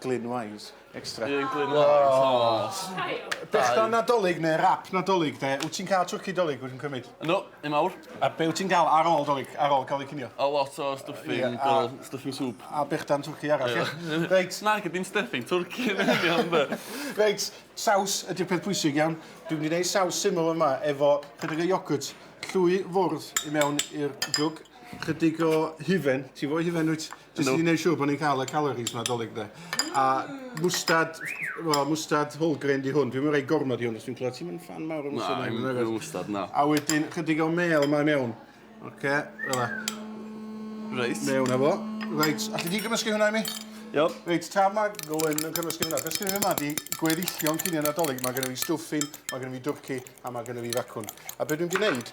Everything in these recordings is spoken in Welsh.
Glynwise, extra. Un Glynwise, aww. Dechrau Nadolig neu rap Nadolig de, wyt ti'n cael twrci Dolig wyt ti'n cymryd? No, un mawr. A be wyt ti'n cael ar ôl Dolig, ar ôl cael ei cinio? A lot o stuffing, fel stuffing soup. A bechdan twrci arall, ie? Reit. Nag ydy'n stuffing twrci yn union de. Reit, saws ydy'r peth pwysig iawn. Dwi'n mynd i wneud saws syml yma efo chydig o iogwrt, llwy fwrdd i mewn i'r jwg, chydig o hufen, ti fo hufen wyt? Jyst i wneud siŵr bod ni'n cael y calories yma dolyg de. A mwstad, wel, mwstad whole grain di hwn. Dwi'n mynd rhoi gormod i hwn, os dwi'n clywed ti'n mynd fan mawr o mwstad. Na, dwi'n mynd mwstad, na. A wedyn, chydig o mel yma mewn. Oce, okay, fel la. Reit. Mewn efo. Reit, a ti di gymysgu hwnna i mi? Iawn. Reit, tra mae Glyn yn cymysgu hwnna, beth sgynny fi yma di gweddillion cynio nadolig, mae gennym ni stwffin, mae gennym ni dwrci, a mae gennym ni facwn. A beth dwi'n gwneud,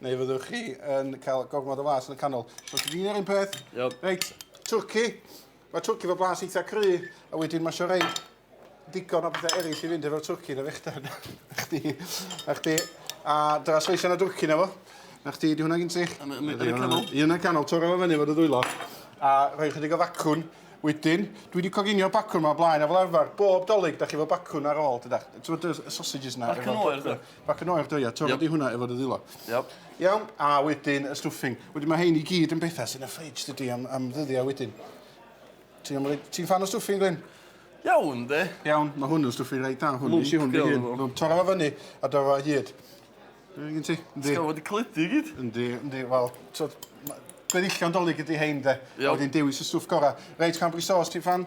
Neu fyddwch chi yn cael gormod o flas yn y canol. So, ti'n un ar un peth. Yep. Reit, twrci. Mae twrci fo blas eitha cry, a wedyn mae sio rei digon o bethau eraill i fynd efo'r twrci na fechta. Chdi, a chdi, a dyna sleisio na dwrci na fo. Na chdi, di hwnna gyn ti? Yn y canol. Yn y canol, toro fo fyny fod y ddwylo. A rhoi chydig o facwn. Wedyn, dwi wedi coginio bacwn yma blaen a fel arfer, bob dolyg, da chi fo bacwn ar ôl, dydach. Ti'n bod y sausages yna? Bacwn oer, dwi. Bac yn oer, do, ia. Torra yep. di hwnna efo dy ddilo. Yep. Iawn, a wedyn y stuffing. Wedyn mae hein i gyd yn bethau sy'n y ffridge, dydy, am, am ddyddiau wedyn. Ti'n ti fan o stuffing, Glyn? Iawn, de. Iawn, mae hwn yn stuffing reit da. Hwn, nes i hwn dy hun. Torra fo fyny a do fo hyd. Ti'n ti? Ti'n gael wedi clydu gyd? Yndi, yndi, wel, gweddillion dolyg ydy hein, de. Iawn. Wedyn dewis y stwff gorau. Reit, cambri sauce, ti'n fan?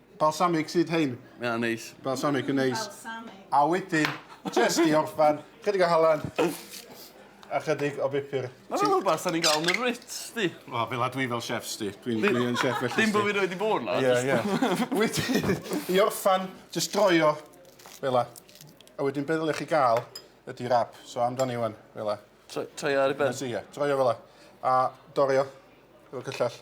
Balsamic sydd hein. Mae o'n neis. Balsamic yn neis. Balsamic. A wedyn, jyst i orffan, chydig o halen a chydig o bupur. Mae fel rhywbeth da ni'n gael yn y Ritz, di? Wel, fel a dwi fel chef, sti. Dwi'n dwi yn chef felly. Dim bod fi rhaid i bod na. Ie, ie. Wedyn, i orffan, jyst droi o fel a. A wedyn be ddylech chi gael ydy rap. So amdani wan, fel a. Troi ar i ben? Ie, troi o fel a. A dorio, fel cyllell.